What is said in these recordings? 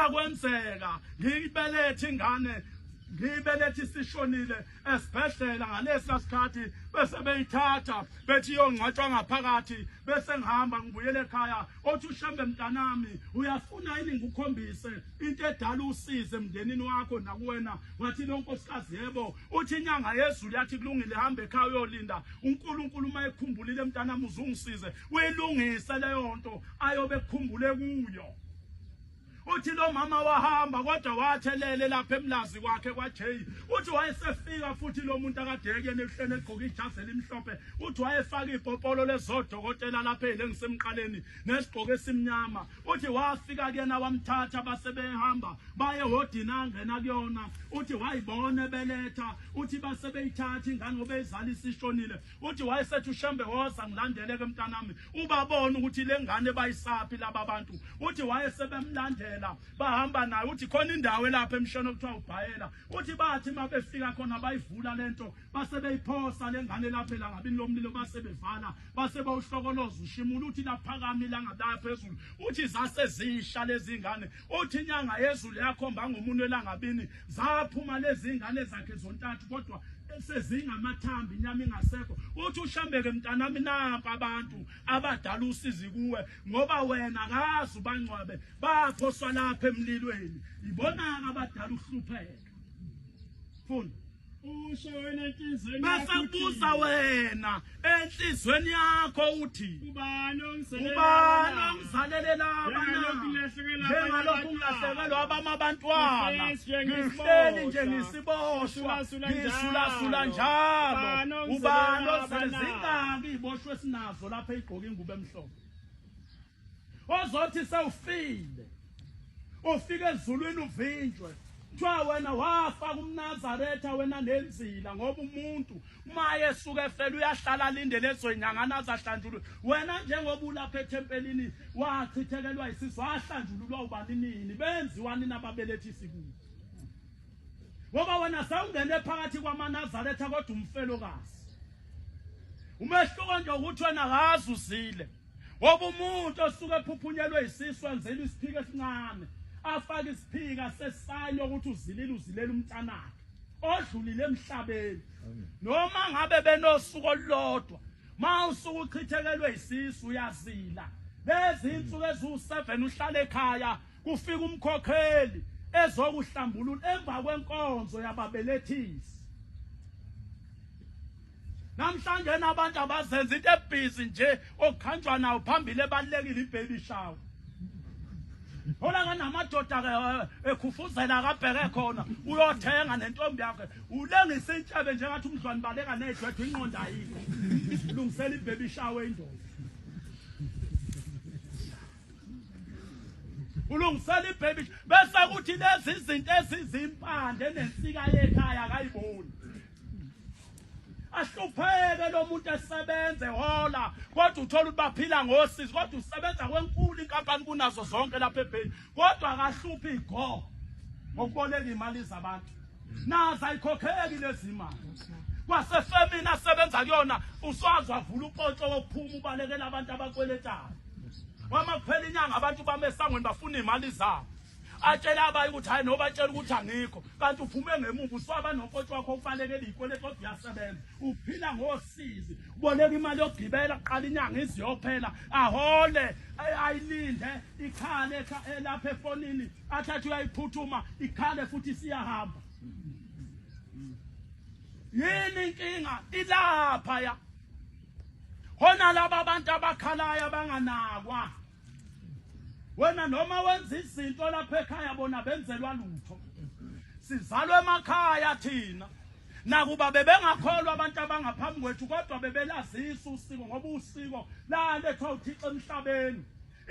Akwenzeka ngiyibelethe ingane ngiyibelethe isishonile esibhedlela ngalesa sikhathi bese beyithatha bethi iyongcwatshwa ngaphakathi bese ngihamba ngibuyele ekhaya othi ushembe mntanami uyafuna yini ngikukhombise into edala usize emndenini wakho nakuwena wathi lo nkosikazi yebo uthi inyanga yezulu yathi kulungile hamba ekhaya uyolinda unkulunkulu uma ekhumbulile mntanami uzungisize uyilungise leyo nto ayobe ekhumbule kuyo uthi lo mama wahamba kodwa wathelele lapha emlazi kwakhe kwaJay uthi wayesefika futhi lo muntu akadeke nehlene egqoka ijazi elimhlophe uthi wayefaka ipopolo lezodokotela lapha elengisemqaleni nesigqoko esimnyama uthi wafika kuyena wamthatha basebehamba baye hodini angena kuyona uthi wayibona beletha uthi basebeyithatha ingane obeyizalisa ishonile Uthi wayesethi uShembe woza ngilandele ke mntanami ubabona ukuthi lengane bayisaphi laba bantu uthi wayesebemlandela bahamba naye uthi khona indawo elapha emshweni okuthiwa ubhayela uthi bathi mabefika khona bayivula lento base beyiphosa lengane lapha la ngabini lomlilo base bevala base bawuhlokoloza ushimula uthi laphakami la ngabaya phezulu uthi zase zisha lezingane Uthi inyanga yezulu yakhomba ngomunwe langabini zaphuma lezi ngane zakhe zontathu kodwa sezingamathambi inyama ingasekho uthi ushambeke mntanami nampa abantu abadala usizi kuwe ngoba wena kazi ubangcwabe baphoswa lapha emlilweni yibona-ke abadala uhlupheke Funda. Usho wena enhlizweni yakho. Basabuza wena enhlizweni yakho uthi. Ubani ongiselela? Ubani ongizalelela abana? Njengalokhu ngilahlekelwa abama abantwana. Ngihleli nje ngisiboshwa. Ngisulasula njalo. Ubani ongiselela? Zingaki iboshwe sinazo lapha igqoke ingubo emhlophe. ozothi sewufile ufike ezulwini uvinjwe kuthiwa wena wafa kumnazaretha wena nenzila ngoba umuntu maye esuke efela uyahlala alindele ezoyinyangana azahlanjulwe wena njengoba ulapha ethempelini wachithekelwa isisu wahlanjululwa ubani nini benziwani nababelethisi kuyo ngoba wena sawungene phakathi kwamanazaretha kodwa umfelokazi umehluko nje ukuthi wena kazi uzile Ngoba umuntu osuke ephuphunyelwe isisu anzela isiphika esincane afake isiphika sesayini ukuthi uzilile uzilele umntanakhe odlulile emhlabeni noma ngabe benosuku olulodwa ma usuku uchithekelwe isisu uyazila lezi insuku eziwu-seven uhlala ekhaya kufika umkhokheli ezokuhlambulula emva kwenkonzo yababelethisi Namhlanje nabantu abazenza into ebhizi nje okukhanjwa nawo phambili ebalekile ibaby shower. Hola kanamadoda ke eh, ekhufuzela akabheke khona uyothenga nentombi yakhe ulengisa intshebe njengathi umdlwane baleka nezwethu inqonda yini isilungisela ibaby shower indoda. Ulungisela ibaby bese kuthi lezi izinto ezizimpande nensika yekhaya akayiboni. ahlupheke lo muntu esebenze hola kodwa uthola ukuthi baphila ngosizi kodwa usebenza kwenkulu inkampani kunazo zonke lapha ebheni kodwa akahluphi go ngokuboleka imali zabantu nazo ayikhokheki lezi mali kwasefemini asebenza kuyona uswazi wavula uxoxo wokuphuma ubalekela abantu abakweletayo wama kuphela inyanga abantu bamesangweni bafuna iy'mali zabo atshele abanye ukuthi hayi nobatshela ukuthi angikho kanti uphume ngemuva uswaba nonkotshi wakho ubalekele iyikweletu kodwa uyasebenza uphila ngosizi uboleka imali yokugibela kuqala inyanga iziyophela ahole ayilinde ikhale elapha efonini athathe uyayiphuthuma ikhale futhi siyahamba yini inkinga ilapha ya hona laba bantu abakhalayo abanganakwa wena noma wenza izinto lapha ekhaya bona benzelwa lutho sizalwe emakhaya thina nakuba bebengakholwa abantu abangaphambi kwethu kodwa bebelazisa usiko ngoba usiko lalethwa uthixo emhlabeni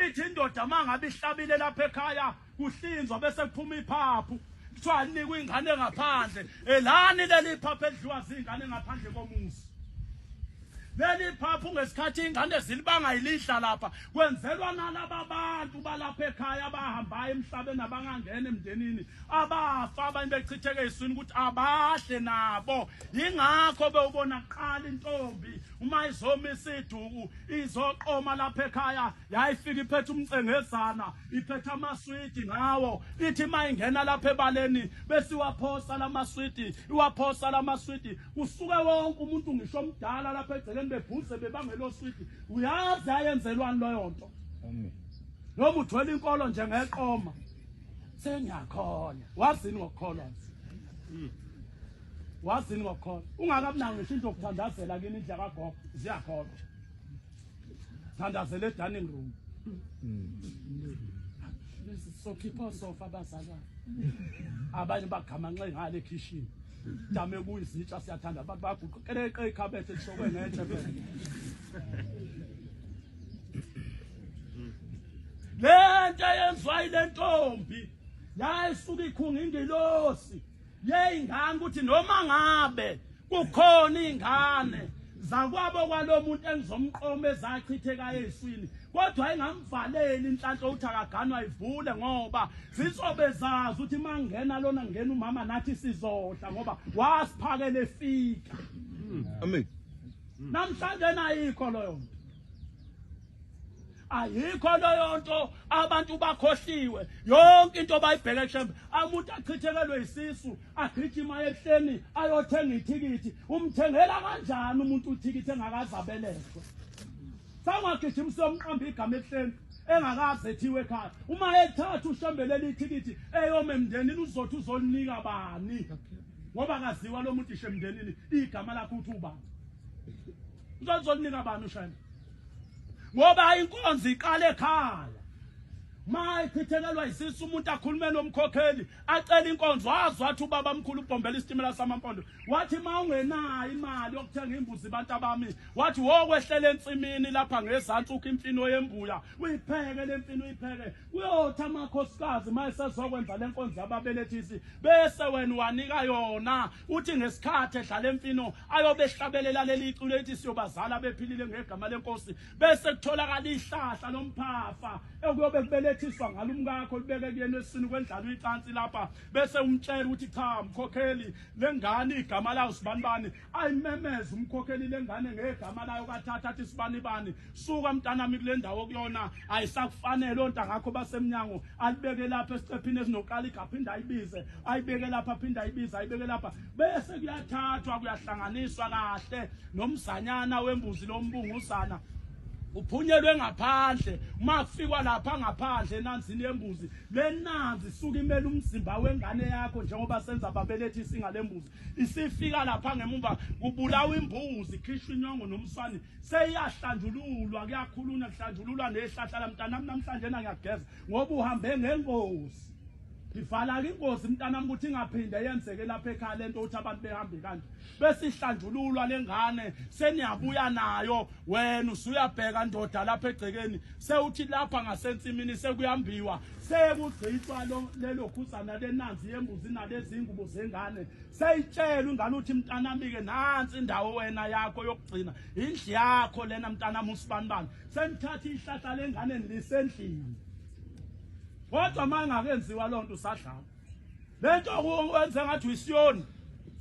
ithi indoda uma ngabe ihlabile lapha ekhaya kuhlinzwa bese kuphuma iphaphu kuthiwa anikwe ingane ngaphandle elani leli phaphu edliwa zingane ngaphandle komuzi leli phaphu ngesikhathi ingane zilibanga ilidla lapha kwenzelwa nalaba bantu balapha ekhaya abahambayo emhlabeni abangangena emndenini abafa abanye bechitheke iswini ukuthi abahle nabo yingakho bewubona kuqala intombi uma izomisa iduku izoqoma lapha ekhaya Yayifika iphethe umcengezana, iphethe amaswidi ngawo. Ithi uma ingena lapha ebaleni bese iwaphosa la maswidi, iwaphosa la maswidi. Kusuke wonke umuntu ngisho omdala lapha egcekeni bebhuze bebangelo swidi. Uyazi ayenzelwani leyo nto? Noma uthwele inkolo nje ngeqoma. Sengiyakhona. Wazini ngokukholwa? Hmm. Wazini ngokukholwa? Ungakabunawo ngisho into yokuthandazela kini indlela kagogo. Ziyakhona. thandazela edining room sokhipha osofa abazalwane abanye bagamanxe ngale ekhishini dame kuyizitsha siyathanda abantu baguqeleqe ikhabethe lishokwe ngetshe lento yenziwa yile ntombi yayisuke ikhunga ingilosi yey'ngane ukuthi noma ngabe kukhona iy'ngane zakwabo kwalomuntu engizomqoma ezachithekayo eziswini kodwa engamvaleli inhlanhla ukuthi akaganwa ivule ngoba zizobe zazi ukuthi mangena lona ngena umama nathi sizodla ngoba wasiphakele fika amen namhlanje nayikho loyo ayikho leyo nto abantu bakhohliwe yonke into bayibheke shembe amuntu achithekelwe isisu agijima ehleni ayothenga ithikithi umthengela kanjani umuntu uthikithi engakaze abelethwe sangagijimisa umqambi igama ehleni engakaze ethiwe ekhaya uma ethatha ushembelele ithikithi eyome emndenini uzothi uzolinika bani ngoba akaziwa lo muntu ishe emndenini igama lakho uthi ubani uzolinika bani ushembe ngoba inkonzo iqale ekhaya mayichithekelwa isisu umuntu akhulume nomkhokheli acela inkonzo wazi wathi ubaba mkhulu ubhombela isitimela samampondo wathi ma ungenayo imali yokuthenga imbuzi abantu abami wathi wokwehlela ensimini lapha ngezantsi ukho imfino yembuya uyipheke le mfino uyipheke kuyothi amakhosikazi ma esezokwenza le nkonzo yababelethisi bese wena wanika yona uthi ngesikhathi edlala emfino ayobe ehlabelela leli iculo ethi siyobazala bephilile ngegama lenkosi bese kutholakala ihlahla lomphafa ekuyobe kubelethiswa ngalo umkakho libeke kuyena esini kwendlala uyicansi lapha bese umtshela ukuthi cha mkhokheli lengane igama layo sibanibani ayimemeza umkhokheli lengane ngegama layo kathatha athi sibanibani Suka mntanami kule ndawo kuyona ayisakufanele onta ngakho basemnyango alibeke lapha esicephini esinoqala igaphinda ayibize ayibeke lapha phinda ayibize ayibeke lapha bese kuyathathwa kuyahlanganiswa kahle nomzanyana wembuzi lombunguzana uphunyelwe ngaphandle uma kufikwa lapha ngaphandle enanzini yembuzi le nanzi suke imele umzimba wengane yakho njengoba senza babelethi isinga lembuzi isifika lapha ngemumva kubulawa imbuzi khishwa inyongo nomswane seyiyahlanjululwa kuyakhuluna kuhlanjululwa nehlahla lamntanami namhlanje na ngiyageza ngoba uhambe ngengozi ngivala-ke ingozi mntanami ukuthi ingaphinde yenzeke lapha ekhaya le nto ukuthi abantu behambe kanje bese ihlanjululwa le ngane seniyabuya nayo wena usuyabheka ndoda lapha egcekeni sewuthi lapha ngasensimini sekuyambiwa sekugcitshwa lelo khuzana lenanzi yembuzi nalezingubo zengane Seyitshela ungane uthi mntanami-ke nansi indawo wena yakho yokugcina indlu yakho lena mntanami usibanibani senithatha ihlahla lengane lisendlini kodwa uma ingakenziwa loo nto usadlala le nto wenze ngathi uyisiyoni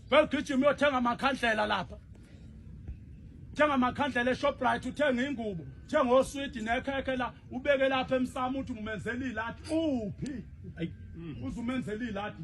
vele ugijima uyothenga amakhandlela lapha thenga amakhandlela eshoprite uthenge ingubo thenga oswidi nekhekhe la ubeke lapha emsamo uthi ngumenzela iladi uphi uze umenzela iladi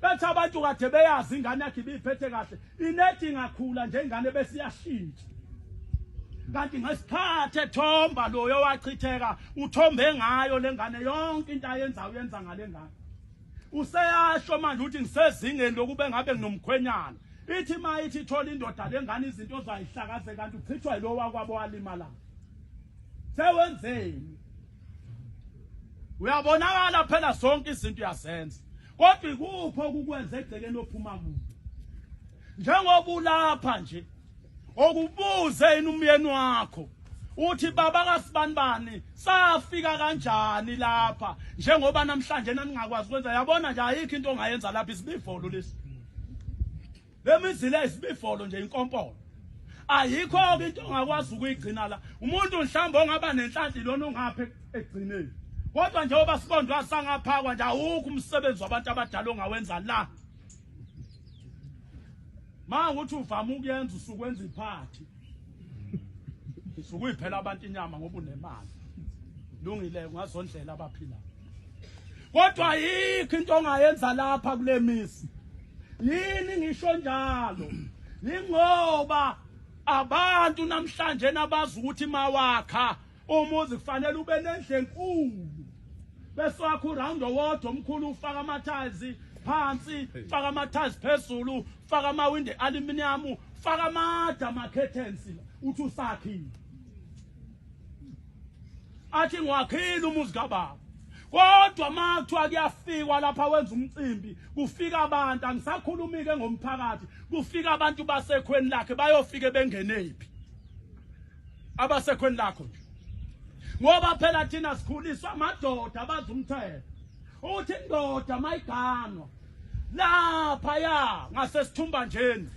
bethi abantu kade beyazi ingane yakhe ibiphethe kahle inethi ingakhula nje ingane bese iyashintsha kanti ngesikhathi ethomba loyo wachitheka uthombe ngayo lengane yonke into ayenzayo uyenza ngalengane useyasho manje ukuthi ngisezingeni lokube ngabe nginomkhwenyana ithi ma ithi ithola indoda lengane izinto zayihlakaze kanti uchithwa yilowo wakwabo walimala sewenzeni uyabonakala phela zonke izinto uyazenza kodwa ikuphi okukwenza egcekeni ophuma kuyo njengoba ulapha nje okubuze yini umyeni wakho uthi baba kasibani bani safika kanjani lapha njengoba namhlanje naningakwazi ukwenza yabona nje ayikho into ongayenza lapha isibivolo lesi Lemizila isibifolo nje inkompolo. Ayikho ke into ongakwazi ukuyigcina la. Umuntu mhlawumbe ongaba nenhlanhla lona ongaphe egcineni. Kodwa njengoba sibondwa asangaphakwa nje awukho umsebenzi wabantu abadala ongawenza la. Manje uthi uvama ukuyenza usukwenza iphathi. sukuyiphela abantu inyama ngoba unemali lungile ungazondlela abaphila kodwa yikho into ongayenza lapha kule misi yini ngisho njalo yingoba abantu namhlanje nabazi ukuthi mawakha umuzi kufanele ube nendle enkulu bese wakho uround owodwa omkhulu ufaka amathazi phansi faka amathazi phezulu faka amawindi aluminium faka amada ama-curtains uthi usakhile athi ngiwakhile umuzi kababa kodwa uma kuthiwa kuyafikwa lapha wenza umcimbi kufika abantu angisakhulumike ngomphakathi kufika abantu basekhweni lakhe bayofike bengenephi abasekhweni lakho nje ngoba phela thina sikhuliswa amadoda abazi umthetho Uthi indoda mayiganwa lapha ya ngasesithumbanjeni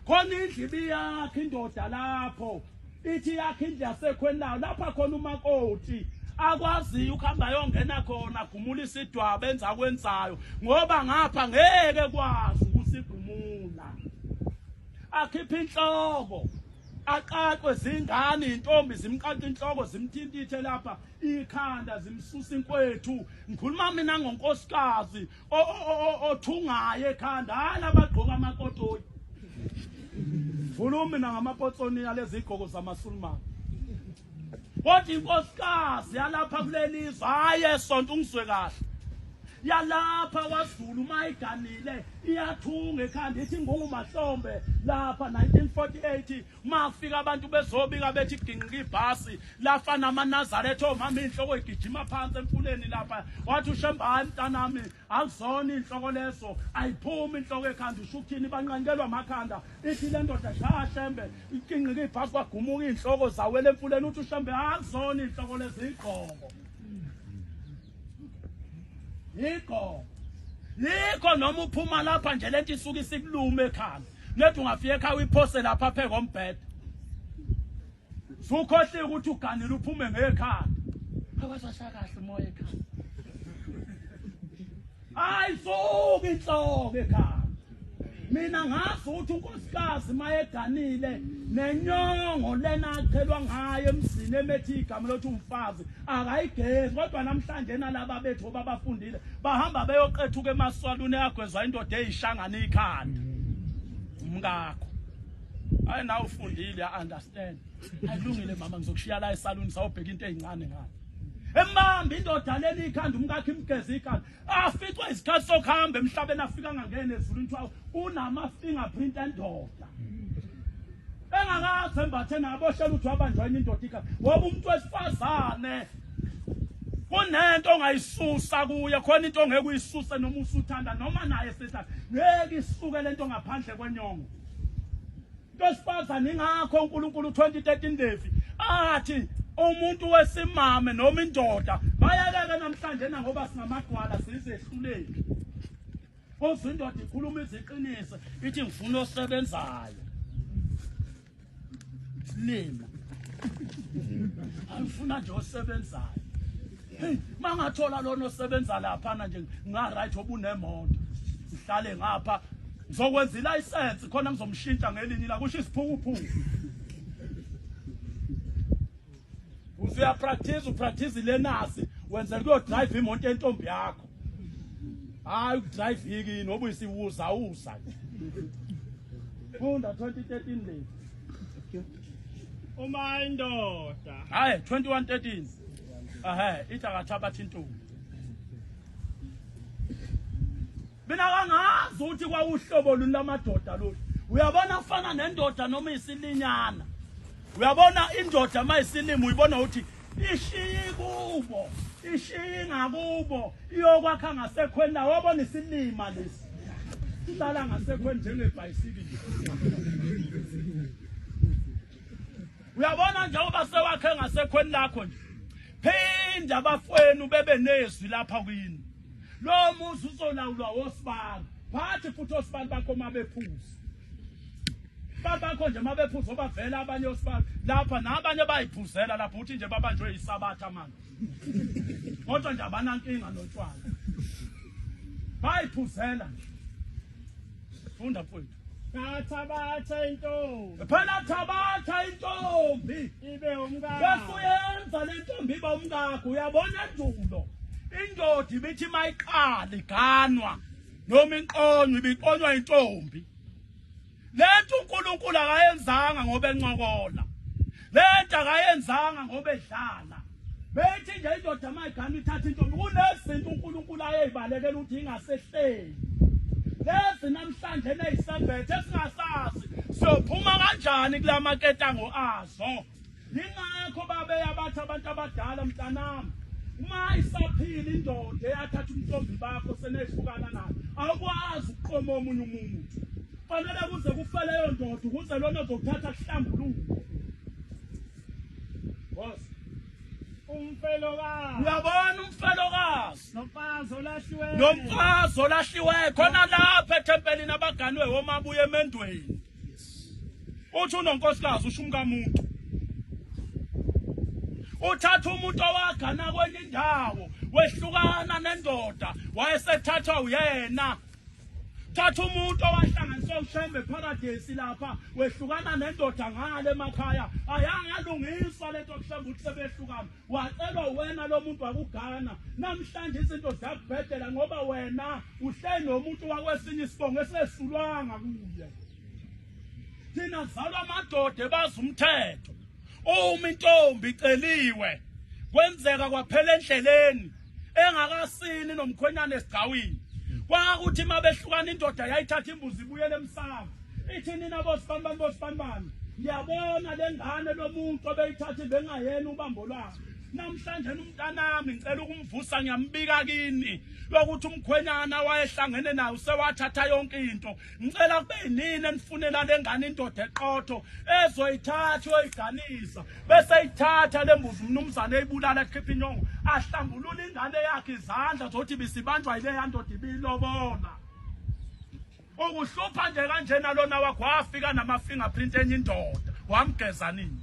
khona indlu ibiyakhe indoda lapho ithi yakhe indlu yasekhweni layo lapha khona umakoti akwaziyo ukuhamba yongena khona gumula isidwaba enza kwenzayo ngoba ngapha ngeke kwazi ukusigumula akhiphe inhloko aqaqwe zingane intombi zimqaqa inhloko zimthintithe lapha ikhanda zimsusa inkwethu ngikhuluma mina ngonkosikazi othungayo ekhanda hayi labagqoka amakotoyi ngikhuluma mina ngamapotsoni yalezigqoko zamasulumane kodwa inkosikazi yalapha kulelizwe hayi esonto ungizwe kahle yalapha wazulu uma iganile iyathunga ekhanda ithi ngungumahlombe lapha 1948 mafika abantu bezobika bethi ginqika ibhasi lafa namanazaretha omama inhloko igijima phansi emfuleni lapha wathi ushemba hayi mntanami akuzona inhloko leso ayiphumi inhloko ekhanda ushuthini banqanyelwa amakhanda ithi le ndoda sha shembe iginqika ibhasi kwagumuka iy'nhloko zawela emfuleni uthi ushembe akuzona inhloko lezi igqoko yikho yikho noma uphuma lapha nje lento isuke isikulume ekhanda nethi ungafika ekhaya uyiphose lapha phe kombhede sukhohliwe ukuthi uganile uphume ngekhanda akasashakahle umoya ekhanda ayisuka inhloko ekhaya mina ngazi ukuthi unkosikazi mayeganile nenyongo lena achelwa ngayo emzini emethi igama lothi umfazi akayigezi kodwa namhlanje nalaba bethu babafundile bahamba beyoqethuka emaswaluni eyagwezwa indoda eyishangana ikhanda umkakho hayi nawe ufundile ya understand ayilungile mama ngizokushiya la esaluni sawubheka into ezincane ngani embambe indoda leni ikhanda umkakhe imgeze ikhanda aficwe isikhathi sokuhamba emhlabeni afika angangene ezulwini kuthiwa unama-fingerprint endoda engakaze embathe naboshela ukuthi wabanjwa yini indoda ikhanda ngoba umuntu wesifazane kunento ongayisusa kuye khona into ongeke uyisuse noma usuthanda noma naye sethanda ngeke isuke lento ngaphandle kwenyongo Ntosifazane ingakho uNkulunkulu 2013 Devi athi umuntu wesimame noma indoda bayakeke namhlanje na ngoba singamagwala sizehluleki. Kodwa indoda ikhuluma iziqiniso ithi ngifuna osebenzayo. Silima. Angifuna nje osebenzayo. Hey, mangathola lona osebenza lapha na nje nga right obunemoto. Ngihlale ngapha ngizokwenza ilicense khona ngizomshintsha ngelinye la kusho isiphukuphuku. Usuya practice u practice lenasi wenza kuyo drive imoto yentombi yakho. Hayi u drive yiki noba isiwuza uza. Funda 2013 le. Uma indoda. Hayi 2113. Ehe, ithi akathabathi intombi. Mina kangazi ukuthi kwawuhlobo luni lamadoda lolu. Uyabona afana nendoda noma isilinyana. Uyabona indoda mayisilima uyibona ukuthi ishiye kubo, ishiye ngakubo, iyokwakha ngasekhweni lawo wabona isilima lesi. Ihlala ngasekhweni njengebhayisikili. uyabona njengoba sewakhe ngasekhweni lakho nje phinda abafwenu bebe nezwi lapha kwini lo muzi uzolawulwa wosibani phathi futhi osibani bakho uma bephuza babakho nje uma bephuza obavela abanye osibani lapha nabanye bayiphuzela lapho uthi nje babanjwe yisabatha manje kodwa nje abanankinga notshwala bayiphuzela nje funda mfowethu Ngathabatha intombi. Phela thabatha intombi. Ibe umkakho. Bese uyenza le ntombi iba umkakho. Uyabona endulo. Indoda ibithi mayiqala iganwa noma inqonywa ibiqonywa intombi. Lento uNkulunkulu akayenzanga ngoba encokola. lento akayenzanga ngoba edlala bethi nje indoda mayigana ithatha intombi kunezinto unkulunkulu ayeyibalekela ukuthi ingasehleli lezi namhlanje eneyisembethe esingasazi siyophuma kanjani kula maketango azo yingakho babeya bathi abantu abadala mntanami uma isaphila indoda eyathatha umntombi bakho senehlukana nayo awukwazi ukuqoma omunye umuntu Fanele kuze kufe leyo ndoda ukuze lona ozokuthatha kuhlambuluke. Boss. Umfelokazi. Uyabona umfelokazi. Nomfazi olahliweyo. Nomfazi olahliweyo khona lapha ethempelini abaganwe homa abuye emendweni. Uthi unonkosikazi usho umkamuntu. Uthatha umuntu owagana kwenye indawo wehlukana nendoda wayesethathwa uyena thatha umuntu owahlanganisa ushembe paradesi lapha wehlukana nendoda ngale emakhaya ayanga yalungiswa lento kuhlambe ukuthi sebehlukana wacelwa wena lo muntu wakugana namhlanje izinto ziyakubhedela ngoba wena uhle nomuntu wakwesinye isibongo esesulwanga kuye thina zalwa amadoda ebazi umthetho uma intombi iceliwe kwenzeka kwaphela endleleni engakasini nomkhwenyana esigcawini kwakuthi uma behlukana indoda yayithatha imbuzi ibuyele emsamo ithi nina bosibanibani bosibanibani ngiyabona le ngane lo muntu obeyithathi bengayena ubambo lwakhe namhlanje umntanami ngicela ukumvusa ngiyambika kini lokuthi umkhwenyana wayehlangene nayo sewathatha yonke into ngicela kube yinini enifunela le ngane indoda eqotho ezoyithatha uyoyiganisa bese ithatha le mbuzi umnumzane eyibulala ekhipha inyongo ahlambulula ingane yakhe izandla zokuthi bisibanjwa yile yandoda ibiyilobola ukuhlupha nje kanjena lona wakho wafika nama-fingerprint enye indoda wamgeza nini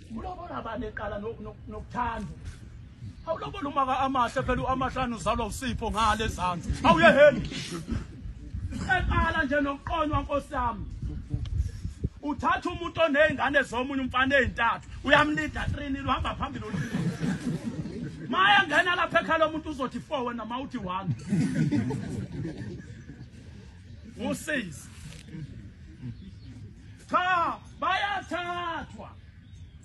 Ulobola abantu eqala nokuthanda. Awulobola uma ka amahle phela uamahlanu uzalwa usipho ngale ezansi. Awuyeheli. Eqala nje nokuqonywa nkosi yami. Uthatha umuntu onezingane zomunye umfana ezintathu, uyamlida 3 nil uhamba phambili ulida. Maya ngena lapha ekhaya lomuntu uzothi 4 wena mawuthi 1. usizi cha bayathathwa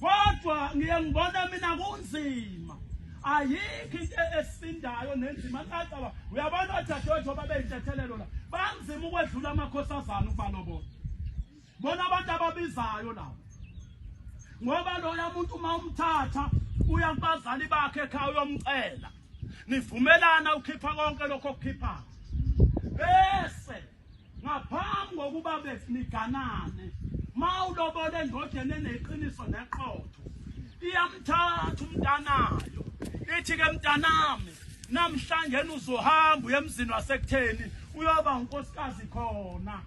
kodwa ngiye ngibona mina kunzima ayikho into esindayo nenzima kacaba uyabona odadewethu babeyintethelelo la banzima ukwedlula amakhosazana ukubalobona Bona abantu ababizayo labo. Ngoba loya muntu uma umthatha uya kubazali bakhe ekhaya uyomcela. Nivumelana ukhipha konke lokho okukhipha. Bese ngaphambi kokuba beniganane mawulobole endodeni eneqiniso neqotho iyamthatha umntanayo ithi ke mntanami namhlanje uzohamba uye emzini wasekutheni uyoba unkosikazi khona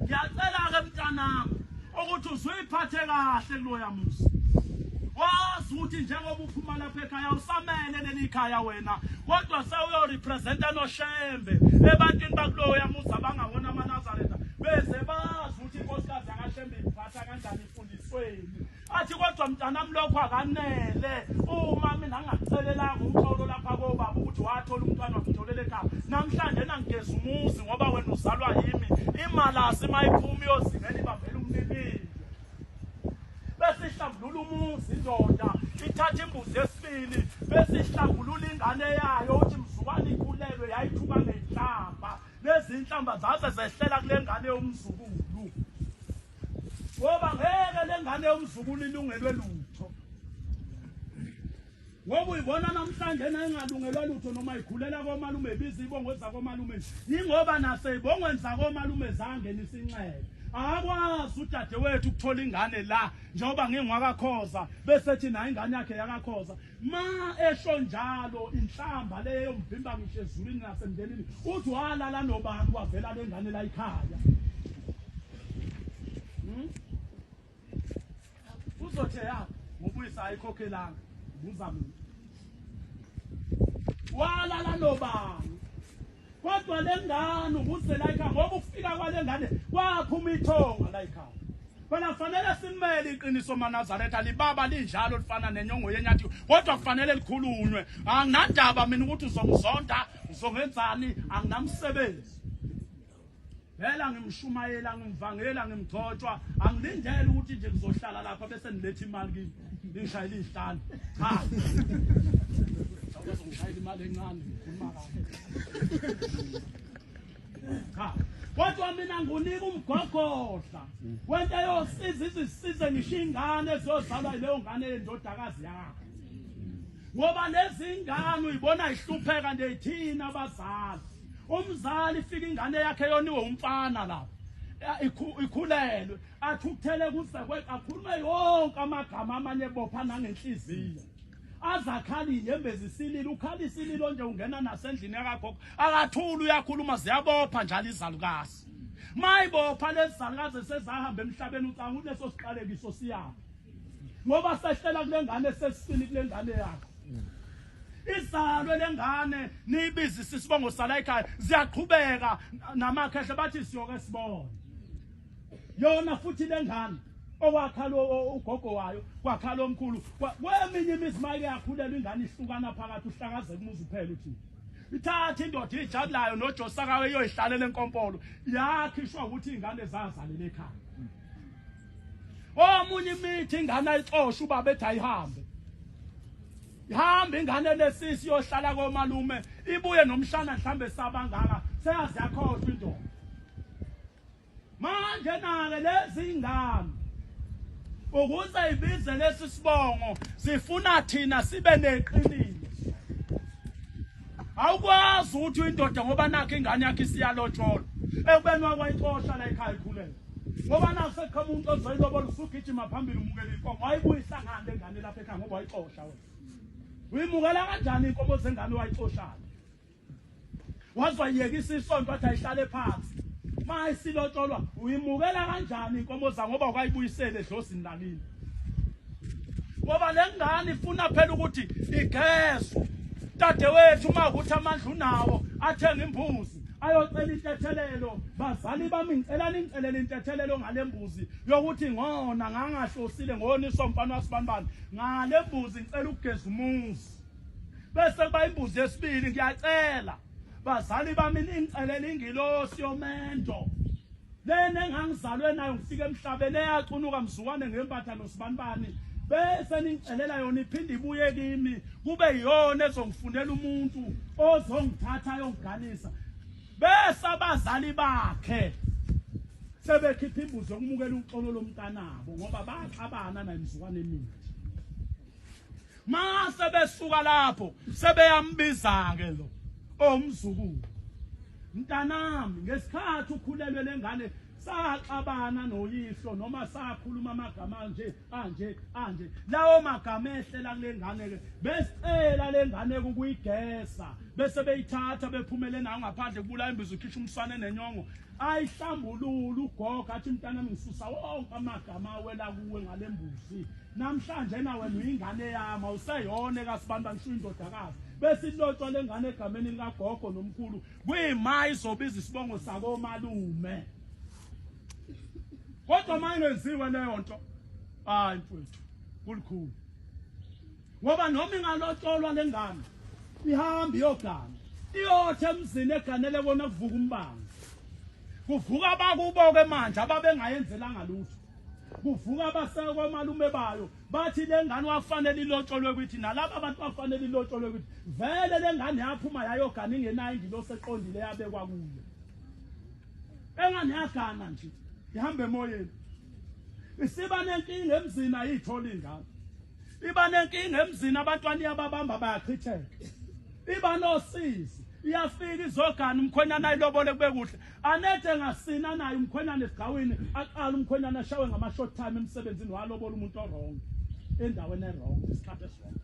ngiyacela-ke mntanami ukuthi uzuyiphathe kahle kuloya musa wazi ukuthi njengoba uphuma lapha ekhaya usamele leli khaya wena kodwa sewuyorepresenta noshembe ebantwini bakuloya musa bangawona amanazaretha beze bazi ukuthi inkosikazi yakashembe iphatha kanjani efundisweni athi kodwa mntanami lokho akanele uma mina ngingakucelelanga umxolo lapha kobaba ukuthi wathola umntwana wamtholele ekhaya namhlanje nangigeza umuzi ngoba wena uzalwa yimi imalasi uma iphuma iyozingela ibambela umnibile bese ihlambulula umuzi indoda ithatha imbuzi yesibili bese ihlambulula ingane yayo uthi mzukwane ikhulelwe yayithuka ngenhlamba nezinhlamba zaze zehlela kule ngane yomzukulu ngoba ngeke lengane yomzukulu ilungelwe lutho ngoba uyibona namhlanje nayingalungelwa lutho noma ikhulela komalume ibiza ibongo ezakomalume yingoba naseyibongweni zakomalume zangenisa inxele akwazi udadewethu ukuthola ingane la njengoba ngingwakakhoza besethi nayo ingane yakhe yakakhoza Ma esho njalo inhlamba leyo mvimba ngisho ezulwini nasemndenini uthi walala nobani wavela lengane la ikhaya hmm? uzothe ya ngobuyisa ayikhokhelanga buza mina walala nobani Kodwa le ngane umuze la ekhaya ngoba ukufika kwale ngane kwaphuma ithonga la ekhaya. Phela kufanele simele iqiniso maNazaretha libaba linjalo lifana nenyongo yenyathi kodwa kufanele likhulunywe. Anginandaba mina ukuthi uzongizonda, uzongenzani, anginamsebenzi. Vela ngimshumayela ngimvangela ngimgcotshwa angilindele ukuthi nje ngizohlala lapha bese nilethe imali kimi ngishayile izihlalo cha Awukaze ngishayile imali encane ngikhuluma kahle cha kodwa mina ngunika umgogodla wento yosiza izisize ngisho ingane ezozalwa yileyo ngane yendodakazi yakho ngoba lezi ngane uyibona ihlupheka nje yithina abazali umzali fika ingane yakhe yoniwe umfana lapho ikhulelwe athukuthele kusekwe akhulume yonke amagama amanye bopha nangenhliziyo azakhali inyembezi isilile ukhala isililo nje ungena nasendlini yakagogo akathuli uyakhuluma ziyabopha njalo izalukazi mayibopha lezi zalukazi esezahamba emhlabeni ucanga uneso siqalekiso siyaphi ngoba sehlela kule ngane sesisini kule ngane yakho izalwe lengane niyibizisa isibongo sala ekhaya ziyaqhubeka namakhehle bathi siyoke sibone yona futhi lengane okwakhala ugogo wayo kwakhala omkhulu kweminye imizi maye yakhulela ingane ihlukana phakathi uhlakazeka umuzi uphela uthi ithatha indoda ijabulayo nojosakawe iyoyihlalela enkompolo yakhishwa ukuthi ingane zazalele ekhaya omunye imithi ingane ayixosha ubaba ethi ayihambe Ihamba ingane lesisi yohlala komalume ibuye nomshana mhlambe sabangaka seyazi yakhohlwa indoda. Manje nake lezi ngane ukuze ibize lesi sibongo sifuna thina sibe neqiniso awukwazi ukuthi uyindoda ngoba nakho ingane yakhe isiyalotshola ekubeni wakwayixosha la ekhaya ikhulele ngoba nakuseqhamuka umuntu ozoyilobola usugijima phambili umukela inkomo wayibuyisa ngani lengane lapha ekhaya ngoba wayixosha wena uyimukela kanjani inkomo zengane wayixoshana waze wayiyekisa isonto wathi ayihlale phansi ma isilotsholwa uyimukela kanjani inkomo za ngoba ukayibuyisele edlosini lakini ngoba le ngane ifuna phela ukuthi igezwe dadewethu uma ukuthi amandla unawo athenga imbuzi ayocela intethelelo bazali bami ngicela ningicelele intethelelo ngale mbuzi yokuthi ngona ngangahlosile ngoniswa umfana wasibanibani ngale mbuzi ngicela ukugeza umuzi bese kuba imbuzi yesibili ngiyacela bazali bami ningicelela ingilosi yomendo lena engangizalwe nayo ngifike emhlabeni eyacunuka mzukwane ngempatha nosibanibani bese ningicelela yona iphinde ibuye kimi kube yiyona ezongifundela umuntu ozongithatha ayongiganisa Bese abazali bakhe sebekhipha imbuzo yokumukela uxolo lomntanabo ngoba baxabana naye mzukwane mina. Mase besuka lapho sebeyambiza ke lo omzukulu. Mntanami ngesikhathi ukhulelwe lengane saxabana noyihlo noma sakhuluma amagama nje anje anje lawo magama ehlela kule ngane ke besicela le ngane ukuyigesa bese beyithatha bephumele nayo ngaphandle kubula imbizo ukhisha umsane nenyongo ayihlambulula ugoga athi mntana ngisusa wonke amagama awela kuwe ngale mbuzi namhlanje nawe noyingane yami awuseyona ekasibantu angishiyo indodakazi besilotshwa le ngane egameni likagogo nomkhulu kuyima izobiza isibongo sakomalume kodwa uma ingenziwe leyo nto hayi mfowethu kulikhulu ngoba noma ingalotsholwa le ngane ihambe iyogana iyothe emzini eganele kona kuvuka umbango kuvuka abakubo-ke manje ababengayenzelanga lutho kuvuka abasekomalume bayo bathi le ngane wafanele ilotsholwe kwithi nalaba abantu bafanele ilotsholwe kwithi vele le ngane yaphuma yayogana ingenayo ingilosi eqondile yabekwa kuyo Engane yagana nje ihamba emoyeni isiba nenkinga emzini ayitholi ingane iba nenkinga emzini abantwana iyababamba bayachitheka iba nosizi iyafika izogana umkhwenyana ayilobole kube kuhle anethe ngasina naye umkhwenyana esigawini aqala umkhwenyana ashawe ngama-short time emsebenzini walobola umuntu orong endaweni erong isikhathi esirong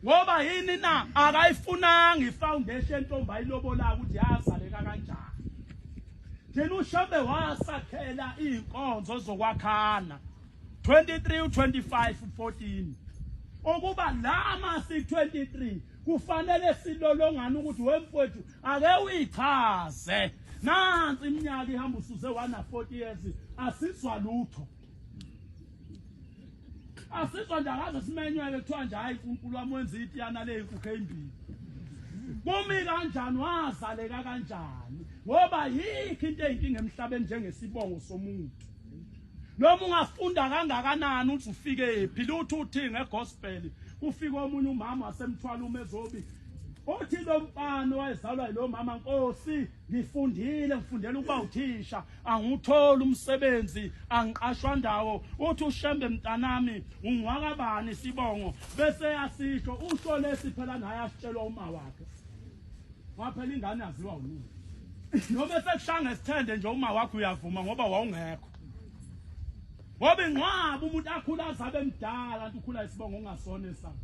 ngoba yini na akayifunanga ifoundation ntombi ayilobolaka ukuthi yazaleka kanjani thina ushambe wasakhela iy'nkonzo zokwakhana 23 25 14 ukuba lama si-23 kufanele silolongane ukuthi wemfowethu ake uyichaze nansi iminyaka ihamba usuze wana-40 years asizwa lutho asizwa nje akaze simenywele kuthiwa nje hayi unkulunkulu wami wenza itiyana leyinkukhu eyimbili kumi kanjani wazaleka kanjani ngoba yikho into eyinkinga emhlabeni njengesibongo somuntu noma ungafunda kangakanani uthi ufike phi luthi uthi ngegospel kufika omunye umama wasemthwala umezobi othi lo mfana wayezalwa yilo mama nkosi ngifundile ngifundela ukuba uthisha angiwutholi umsebenzi angiqashwa ndawo uthi ushembe mntanami ungwakabani sibongo bese yasisho usho lesi phela naye asitshelwa uma wakhe waphela ingane yaziwa unini noma esekushanga esithende nje uma wakho uyavuma ngoba wawungekho ngoba ingcwaba umuntu akhula azabe emdala nto ukhula isibongo ungasona esana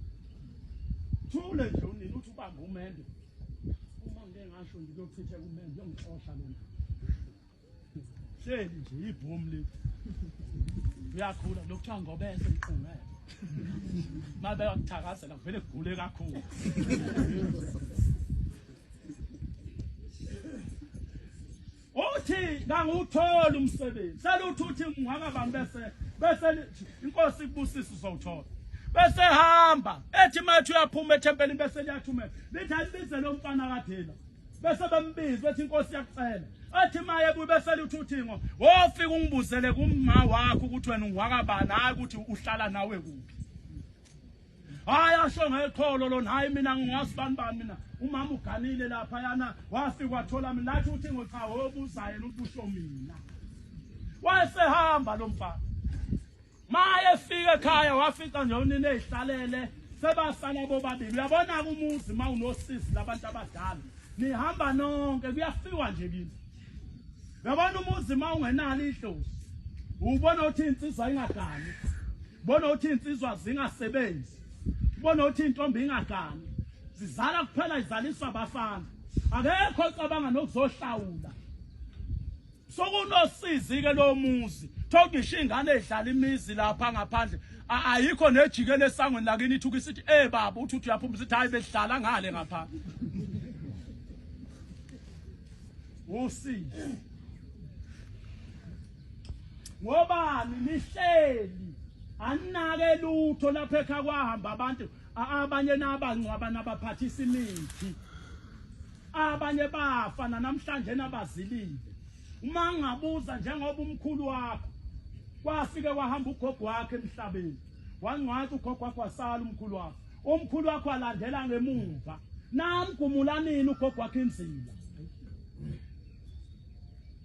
thule nje unini uthi ubamba umendo uma ngike ngasho nje kuyochitha kumele ngiyongixosha lona hleli nje ibhomu le uyakhula lokhu kuthiwa ngobese mqungele uma beyakuthakazela kuvele kugule kakhulu Uthi kangutholi umsebenzi. Seluthi uthi ngingakabani bese bese inkosi ibusisa uzowuthola. Bese hamba ethi mathi uyaphuma ethempelini bese liyathumela. Lithi alibize lo mfana kadela. Bese bembiza bethi inkosi yakucela. athi maye kubesela uthi uthingo wofika ungibuzele kumma wakho ukuthi wena ungwakabani hayi ukuthi uhlala nawe kuphi hayi asho ngeqholo lona hayi mina ngingazi bani bani mina umama uganile lapha yana wafika wathola mina lathi uthi ngocha hobuza yena ubusho mina wayesehamba lo mfana maye fika ekhaya wafica nje unini ezihlalele sebasala bobabili uyabona-ke umuzi uma unosisi labantu abadala nihamba nonke kuyafiwa nje kini yabona umuzi uma ungenalo idlozi ubona ukuthi insizwa ingagani bona ukuthi insizwa zingasebenzi bona ukuthi intombi ingagani zizala kuphela izaliswa abafana akekho ocabanga nokuzohlawula sokunosizi ke lo muzi thogisha ingane edlala imizi lapha ngaphandle ayikho nejike lesangweni lakini ithuka isithi eh baba uthi uyaphuma sithi hayi behlala ngale ngapha wosisi ngobani nihleli anake lutho lapha ekha kwahamba abantu abanye nabangcwaba nabaphathisa imithi abanye bafa namhlanje nabazilile uma ngabuza njengoba umkhulu wakho kwafike kwahamba ugogo wakhe emhlabeni wangcwathi ugogo wakho wasala umkhulu wakho Umkhulu wakho alandela ngemuva. Namgumula nini ugogo wakhe inzila.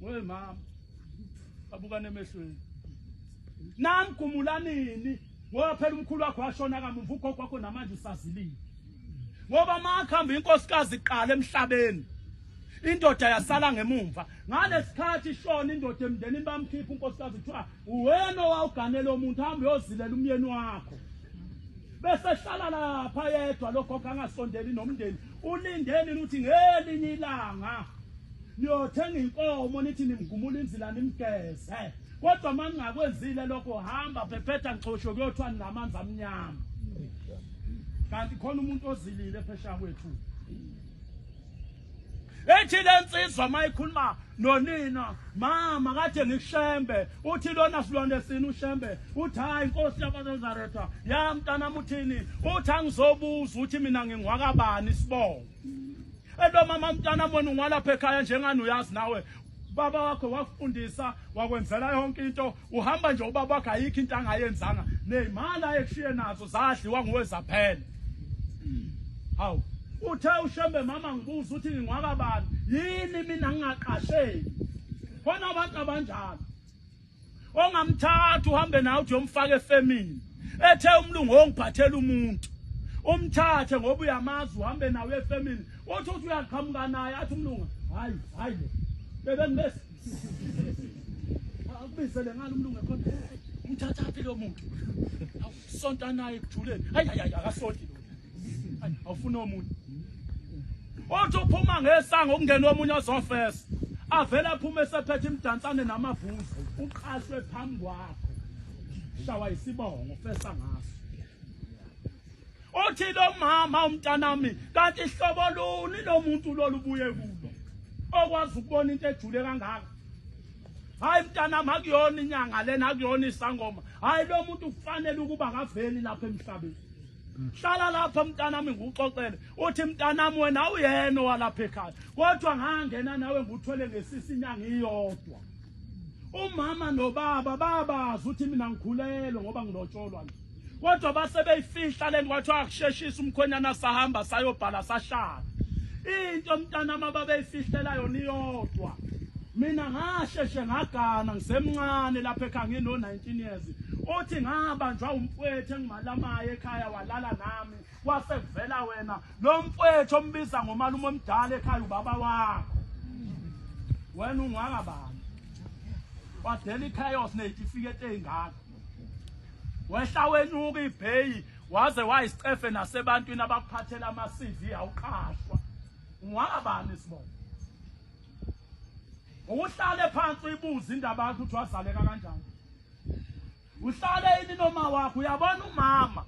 Wey mama. Abukane emehlweni. Namgumula nini ngoba phela umkhulu wakho washona kamumva ugogo wakho namanje usazilile. Ngoba makhamba inkosikazi iqala emhlabeni. indoda yasala ngemumva ngalesikhathi ishona indoda emndenini bamkhipha unkosikazi kuthiwa uwena owawuganela omuntu hamba uyozilela umyeni wakho Besehlala lapha yedwa lokho kangasondeli nomndeni. Ulindeni ukuthi ngelinye ilanga niyothenga inkomo nithi nimgumula inzila nimgeze. Kodwa uma ningakwenzile lokho hamba phephetha ngixosho kuyothiwa ninamanzi amnyama. Kanti khona umuntu ozilile phesha kwethu. ethi lensizwa mayikhuluma nonina mama kade ngishembe uthi lona silwane sini ushembe uthi hayi inkosi yabazazaretha ya mntanami uthini uthi angizobuza ukuthi mina ngingwakabani isibongo elo mama mntanami wena ungwalapha ekhaya njengani uyazi nawe baba wakho wakufundisa wakwenzela yonke into Uhamba nje ubaba wakhe ayikho into angayenzanga nezimali ayekushiye nazo zadliwa nguwe zaphela. Hawu uthe ushembe mama ngibuza ukuthi ngingwaka bani yini mina ngingaqasheki khona abantu abanjalo ongamthatha uhambe nawe uthi yomfaka efemini ethe umlungu ongiphathela umuntu umthathe ngoba uyamazi uhambe nawe efemini uthi uthi uyaqhamuka naye athi umlungu hayi hayi bebe ngibese akubizele ngalo umlungu ekhona umthathaphi lo muntu awusonta naye ekujuleni hayi hayi akasonti lo awufuna omunye othi uphuma ngesango kungena omunye ozofesa avele aphume esephethe imdansane namavuzi uqashwe phambi kwakho shawa isibongo fesa ngaso Uthi lo mama umntanami kanti hlobo luni lo muntu lolubuye kulo okwazi ukubona into ejule kangaka hayi mntanami akuyona inyanga lena akuyona isangoma hayi lo muntu kufanele ukuba akaveli lapha emhlabeni hlala lapha mntanami ngikuxoxele uthi mntanami wena uyena owalapha ekhaya kodwa ngangena nawe nguthwele ngesisi inyanga iyodwa umama nobaba babazi ukuthi mina ngikhulelwe ngoba ngilotsholwa nje kodwa base beyifihla lento kwathiwa akusheshisa umkhwenyana sahamba sayobhala sahlala into mntana mababeyifihlela yona iyodwa mina ngasheshe ngagana ngisemncane lapha ekhaya ngino 19 years uthi ngabanjwa umfwethu engimalamaye ekhaya walala nami kwase kuvela wena lo mfwethu ombiza ngomalume omdala ekhaya ubaba wakho wena ungaka bani wadela ichaos neyitifikethi ezingaka wehla wenyuka ibheyi waze wayisicefe nasebantwini abakuphathela ama-cv awuqashwa ungwabani sibona uhlale phansi uyibuze indaba yakho ukuthi wazaleka kanjani uhlale yini noma wakho uyabona umama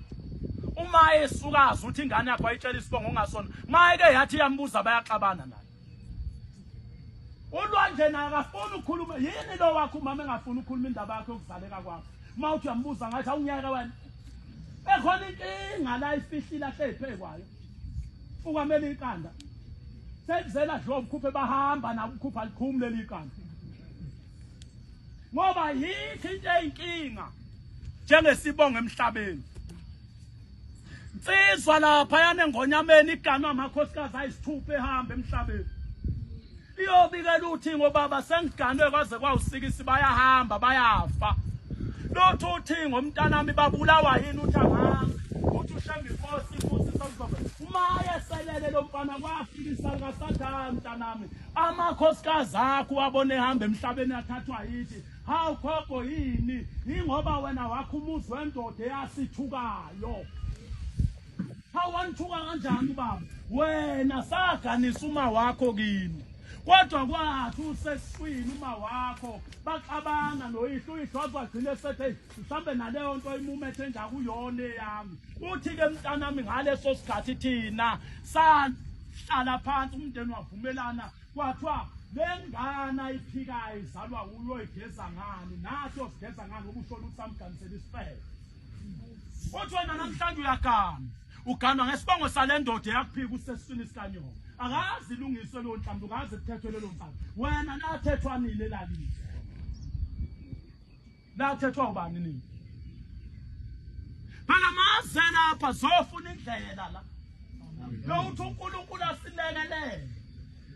uma esukazi ukuthi ingane yakho ayitshela isibongo ongasona mayeke yathi iyambuza bayaxabana naye ulwandle naye akafuni ukukhuluma yini lo wakho umama engafuni ukukhuluma indaba yakhe yokuzaleka kwakho uma uthi uyambuza ngathi awungeke wena ekhona inkinga la ifihlile ahleyiphe kwayo ukwamele iqanda sekuzela dlobo ukhuphe bahamba nabo ukhupha likhumi leli iqanda ngoba yikho into eyinkinga njengesibongo emhlabeni Nsizwa lapha yane ngonyameni iganwa amakhosikazi ayisithupha ehamba emhlabeni. Iyobika luthi ngobaba sengiganwe kwaze kwawusikisi bayahamba bayafa. Lothi uthi ngomntanami babulawa yini uthi ahambe. Uthi ushembe inkosi futhi sokuzobe. Uma eselele lo mfana kwafikisa kasathana mntanami. Amakhosikazi akho wabona ehamba emhlabeni athathwa yithi Hawu gogo yini? Ingoba wena wakho umuzi wendoda eyasithukayo. Hawu wanithuka kanjani ubaba? Wena saganisa uma wakho kini. Kodwa kwathi useswini uma wakho baxabana noyihlo uyihlo azwagcine sethe mhlambe naleyo nto imumethe enjakuyona eyami. Uthi ke mntanami ngaleso sikhathi thina sahlala phansi umndeni wavumelana Kwathiwa le ngane ayiphikayo izalwa wuye oyigeza ngani nathi osigeza ngani ngoba ushona ukuthi samganisela isifebe uthi wena namhlanje uyagana uganwa ngesibongo sale ndoda eyakuphika usesiswini sikanyoko akazi ilungiswe leyo nhlamba ungazi kuthethwe lelo nhlamba wena nathethwa nini elalize Lathethwa ubani nini? Phela maze lapha zofuna indlela la. Lowuthi uNkulunkulu asilekelele.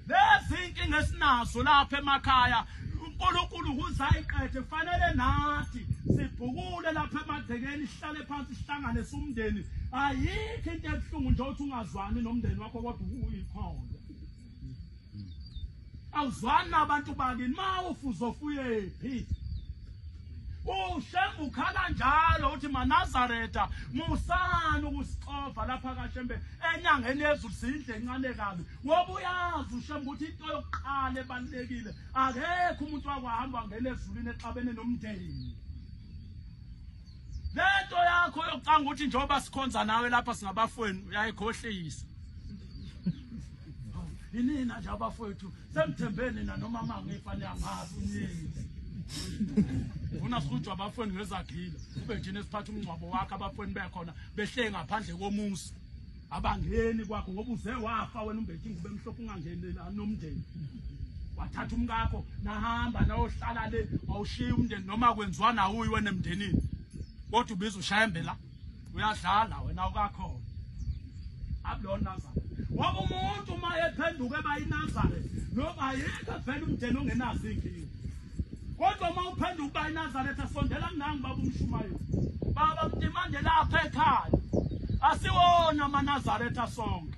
Lezi inkinga esinazo lapha emakhaya uNkulunkulu uzayiqede fanele nathi sibhukule lapha emagcekeni sihlale phansi sihlangane sumndeni ayikho into ebuhlungu nje ukuthi ungazwani nomndeni wakho kodwa uyikhona awuzwani nabantu bakini ma ufuzofuyephi ushembe ukhala njalo uthi manazareta musani ukusixova lapha kashembe enyangeni yezulu siyindle encane kabi ngoba uyazi ushembe ukuthi into yokuqala ebalulekile akekho umuntu wakwahamba wangena ezulwini exabene nomndeni lento yakho yokucanga ukuthi njengoba sikhonza nawe lapha singabafweni uyayikhohlisa yinina nje abafowethu semthembeni na noma mangifa niyangazi uningi funa sihujwa abafweni ngezagile kube njena esiphatha umngcwabo wakhe abafweni bekhona behleye ngaphandle komuzi abangeni kwakho ngoba uze wafa wena umbethi ngube mhlophe ungangenela nomndeni wathatha umkakho nahamba nayohlala le wawushiya umndeni noma kwenziwa nawuyi wena emndenini kodwa ubiza ushayembela uyadlala wena ukakhona akulona nazare ngoba umuntu uma ephenduka eba yinazare noma ayikho vele umndeni ongenazo iy'nkinga kodwa uma uphenduka uba yinazaretha asondela kunangi baba umshumayeli baba mdimande lapha ekhaya asiwona amanazaretha sonke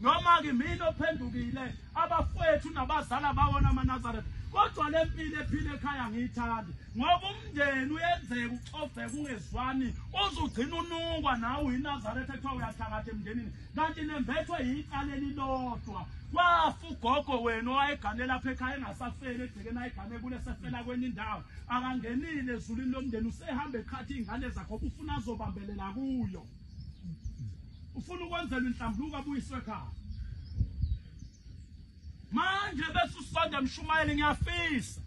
noma-ke mina ophendukile abafowethu nabazala bawona amanazaretha kodwa le mpilo ephile ekhaya ngiyithanda ngoba umndeni uyenzeka uxoveka ungezwani uze ugcina unungwa nawe uyinazaretha kuthiwa uyathakatha emndenini kanti nembethwe yicala elilodwa wafa ugogo wena owayegane lapha ekhaya engasafeli egcekeni ayigane kule sefela kwenye indawo akangenile ezulwini lomndeni usehamba ekhathi iy'ngane zakho ufuna azobambelela kuyo ufuna ukwenzelwa inhlambuluko abuyiswe ekhaya manje bese usonda mshumayeli ngiyafisa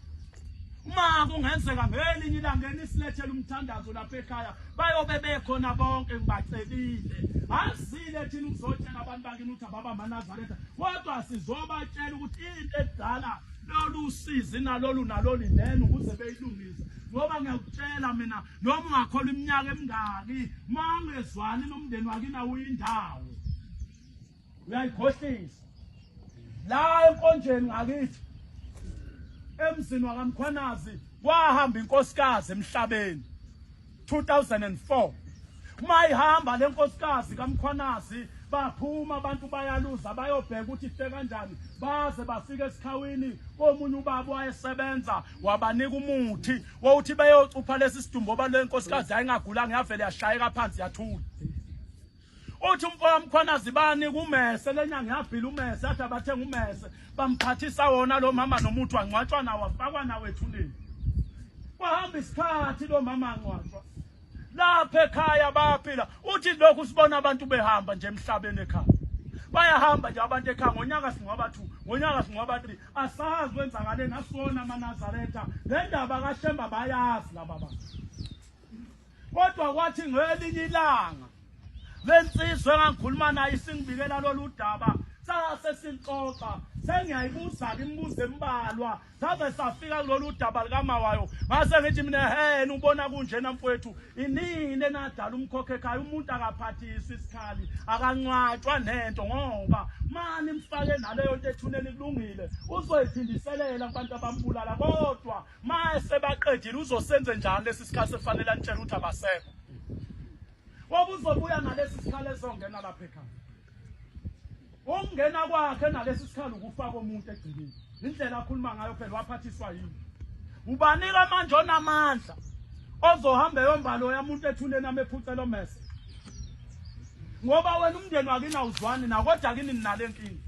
uma kungenzeka ngelinye ilanga enisilethela umthandazo lapha ekhaya bayobe bekhona bonke ngibacelile azile thina ukuzotshela abantu bakini ukuthi ababa manazaretha kodwa sizobatshela ukuthi into edala lolu sizi nalolu nalolu nene ukuze beyilungise ngoba ngiyakutshela mina noma ungakhola iminyaka emingaki uma ungezwani nomndeni wakini awuyindawo uyayikhohlisa la enkonjeni ngakithi emzini wakamkhwanazi kwahamba inkosikazi emhlabeni 2004 uma ihamba le nkosikazi kamkhwanazi baphuma abantu bayaluza bayobheka ukuthi ife kanjani baze bafike esikhawini komunye ubaba wayesebenza wabanika umuthi wowuthi beyocupha lesi sidumbu oba le nkosikazi ayingagulanga yavele yashayeka phansi yathula uthi umfowam Mkhwanazi bani kumese lenyanga yabhila umese athi abathenga umese bamphathisa wona lo mama nomuntu wangcwatshwa nawo afakwa nawo ethuneni kwahamba isikhathi lo mama angcwatshwa lapha ekhaya bayaphila uthi lokhu sibona abantu behamba nje emhlabeni ekhaya bayahamba nje abantu ekhaya ngonyaka singcwaba two ngonyaka singcwaba three asazi wenzakale nasona amanazaretha le ndaba kashemba bayazi laba bantu Kodwa kwathi ngelinye ilanga lensizwe engangikhuluma nayo isingibikela lolu daba sase silixoxa sengiyayibuza-ke imibuzo embalwa saze safika kulolu daba likamawayo ngase ngithi mina hena ubona kunjena mfowethu inini enadala umkhokho ekhaya umuntu akaphathisi isikhali akancwatshwa nento ngoba mani mfake naleyo nto ethuneni kulungile uzoyiphindiselela kubantu abambulala kodwa Mase baqedile uzosenze njalo lesi sikhathi sekufanele anitshela ukuthi abasekho. Ngoba uzobuya nalesi sikhathi ezongena lapha ekhaya. Ukungena kwakhe nalesi sikhathi ukufaka umuntu egcikini. Indlela akhuluma ngayo phela waphathiswa yini? Ubanika manje onamandla ozohamba eyombalo yamuntu ethuneni amephucela omese. Ngoba wena umndeni wakini awuzwani nakodwa kini ninalenkinga.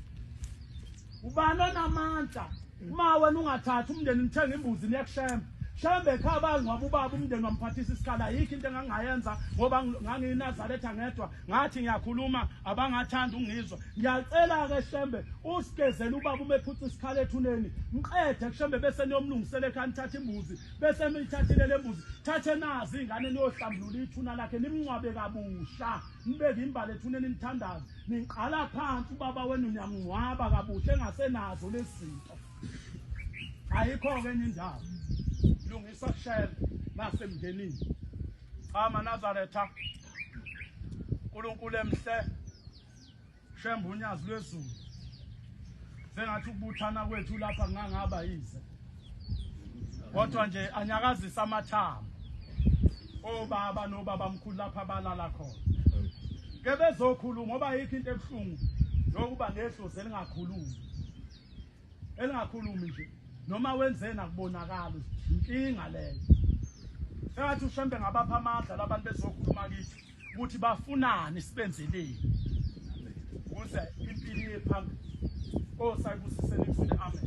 ubani onamandla uma wena ungathathi umndeni nithenga imbuzi niyakushemba shembe ekhaya bangcwaba ubaba umndeni wamphathisa isikhala yikho into engangingayenza ngoba ngangiyinazaretha ngedwa ngathi ngiyakhuluma abangathanda ungizwa ngiyacela-ke shembe usigezele ubaba uma ephutha isikhala ethuneni mqede kushembe bese niyomlungisela ekhaya nithathe imbuzi bese niyithathile le mbuzi thathe nazi iy'ngane niyohlambulula ithuna lakhe nimngcwabe kabusha nibeke imbala ethuneni nithandaze Ningqala phansi ubaba wenu niyamngcwaba kabuhle engasenazo lezi zinto. Ayikho-ke enye indawo. Lungisa shela nasemndenini. Cha manazaretha. Nkulunkulu emhle. Shemba unyazi lwezulu. Sengathi ukubuthana kwethu lapha ngangaba yize. kodwa nje anyakazisa amathambo obaba nobaba mkhulu lapha balala khona ke bezokhuluma ngoba yikho into ebuhlungu yokuba nedlozi elingakhulumi elingakhulumi nje noma wenzeni akubonakali inkinga leyo sengathi ushembe ngabapha amandla labantu bezokhuluma kithi ukuthi bafunani sibenzeleni ukuze impilo iye phambili osayibusisele kuzile amen